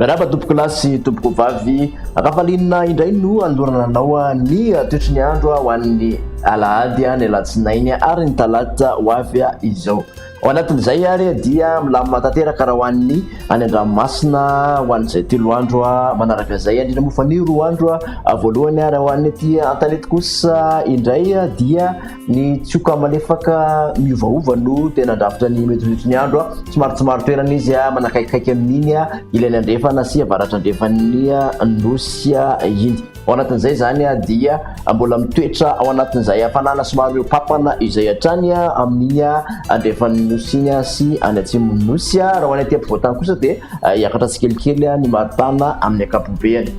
Miarahaba tompoko lahy sy tompoko vavy Ravalina indray no andorana anao ny toetry ny andro ho an'ny alahady ny alatsinainy ary ny talata ho avy izao Ao anatin'izay ary dia milamina tanteraka raha ho an'ny any an-dranomasina ho an'izay telo andro manaraka izay, indrindra moa fa ny roa andro voalohany. Ary ho an'ny ety an-tanety kosa indray dia ny tsioka malefaka miovaova no tena andrafitra ny metimety ny andro, somary tsy maro toerana izy manakaikikaiky amin'iny ilany andrefana sy avaratrandrefan'ny nosy iny. Ao anatin'izay izany dia mbola mitoetra ao anatin'izay hafanana somary mihoa-papana izay hatrany amin'ny andrefan'ny nosy iny sy any atsimon'ny nosy. Raha ho any aty ampovoan-tany kosa dia hiakatra tsikelikely ny maripana amin'ny ankapobeany.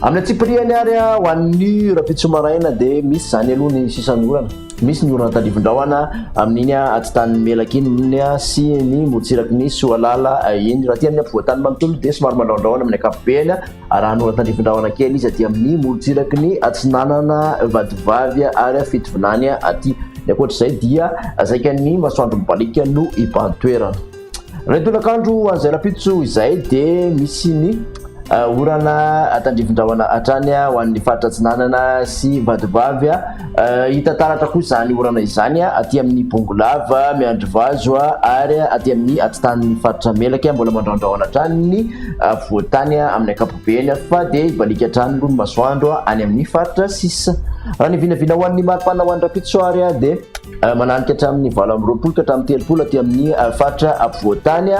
Amin'ny antsipirihany ary ho an'ny rahampitso maraina dia misy izany aloha ny sisan'ny orana. Misy ny orana tadivin-drahona amin'iny atitan'ny Melaky iny sy ny morontsiraky ny Soalala iny. Raha aty amin'ny ampovoan-tany manontolo dia somary mandrahondrahona amin'ny ankapobeany. Raha hanao tandrifin-drahona kely izy aty amin'ny morontsiraky ny atsinanana vadivavy ary fitovinany aty. Ny ankoatr'izay dia saika ny masoandro mibaliaka no iban-toerana. Raha ny tolakandro ho an'izay rahampitso izay dia misy ny orana tandrifin-drahona hatrany ho an'ny faritra atsinanana sy vadivavy. Hita taratra koa izany orana izany aty amin'ny Bongolava, Miandrivazo ary aty amin'ny atitan'ny faritra Melaky mbola mandraondraona hatrany ny afovoan-tany amin'ny ankapobeny fa dia hibaliaka hatrany aloha ny masoandro any amin'ny faritra sisa. Raha ny vinavina ho an'ny maripana ho any Rampitso ary dia mananika hatramin'ny valo amby roapolo ka hatramin'ny telopolo aty amin'ny faritra afovoan-tany.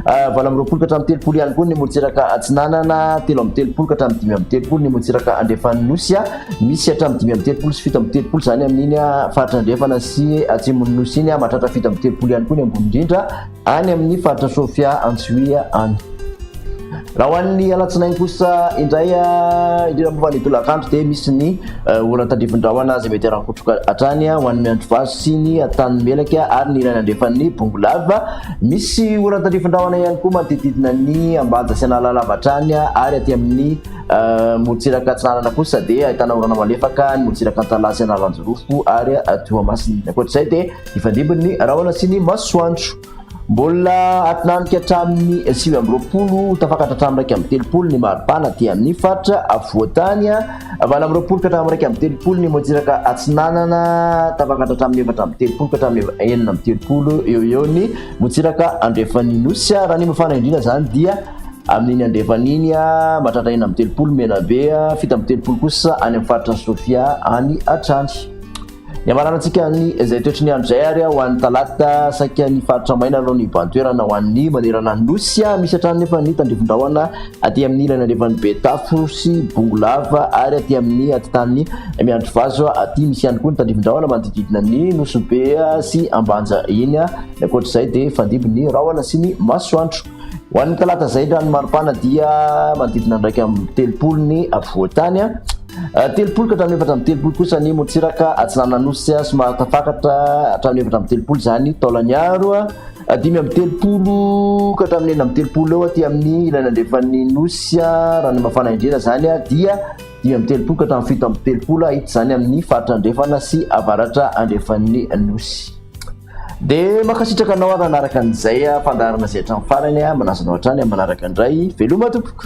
Ah, valo amby roapolo ka hatramin'ny telopolo ihany koa ny morontsiraka atsinanana telo amby telopolo ka hatramin'ny dimy amby telopolo ny morontsiraka andrefan'ny nosy a ah. misy hatramin'ny dimy amby telopolo sy fito amby telopolo izany amin'iny a ah, faritra andrefana sy atsimon'ny nosy iny a mahatratra fito amby telopolo ihany koa ny ambony indrindra any amin'ny faritra sofia antsoia any Raha ho an'ny alatsinainy kosa indray, indrindra moa fa ny tolakandro dia misy ny orana tandrifin-drahona izay mety harankotroka hatrany ho an'ny miandrivazo sy ny tanimelaka ary ny rainy andrefan'ny bongolava. Misy orana tandrifin-drahona ihany koa manodidididina ny ambanja sy analalava hatrany ary aty amin'ny morotsiraka atsinanana kosa dia ahitana orana malefaka ny morotsiraka antalaha sy analanjirofo ary toamasina. Ny ankoatr'izay dia hifandimby ny rahona sy ny masoandro. Mbola atinanika hatramin'ny sivy amby roapolo ho tafakatra hatramin'ny iraika amby telopolo ny maripana aty amin'ny faritra afovoantany, valo amby roapolo ka hatramin'ny iraika amby telopolo ny motsiraka atsinanana, tafakatra hatramin'ny efatra amby telopolo ka hatramin'ny enina amby telopolo eo ho eo ny motsiraka andrefan'ny nosy, raha ny mafana indrindra izany dia amin'iny andrefana iny, mahatratra enina amby telopolo Menabe, fito amby telopolo kosa any amin'ny faritra Sofia any hatrany. Ny hamaranantsika ny izay toetry ny andro izay ary ho an'ny talata saika ny faritra maina no nibahan-toerana ho an'ny manerana ny nosy. Misy hatrany nefa ny tandrifin-drahona aty amin'ny ilany andrefan'i Betafo sy Bongolava ary aty amin'ny atitan'ny Miandrivazo aty. Misy ihany koa ny tandrifin-drahona manodidididina ny Nosy Be sy Ambanja iny. Ny ankoatr'izay dia fandimby ny rahona sy ny masoandro. Ho an'ny talata izay indray ny maripana dia manodidina andraika amby telopolo ny afovoan-tany. Ah, telopolo ka hatramin'ny efatra amby telopolo kosa ny motsiraka atsinanan'osy ah, somary tafakatra hatramin'ny efatra amby telopolo izany taolaniaro. Ah. Dimy amby telopolo ka hatramin'ny enina amby telopolo eo aty amin'ny ilany andrefan'ny nosy raha ny mafana indrindra izany dia dimy amby telopolo ka hatramin'ny fito amby telopolo hahita izany amin'ny faritra andrefana sy avaratra andrefan'ny nosy. dia mankasitraka anao ary nanaraka an'izay fandaharana izay hatramin'ny farany a manasa anao hatrany amin'ny manaraka indray veloma tompoko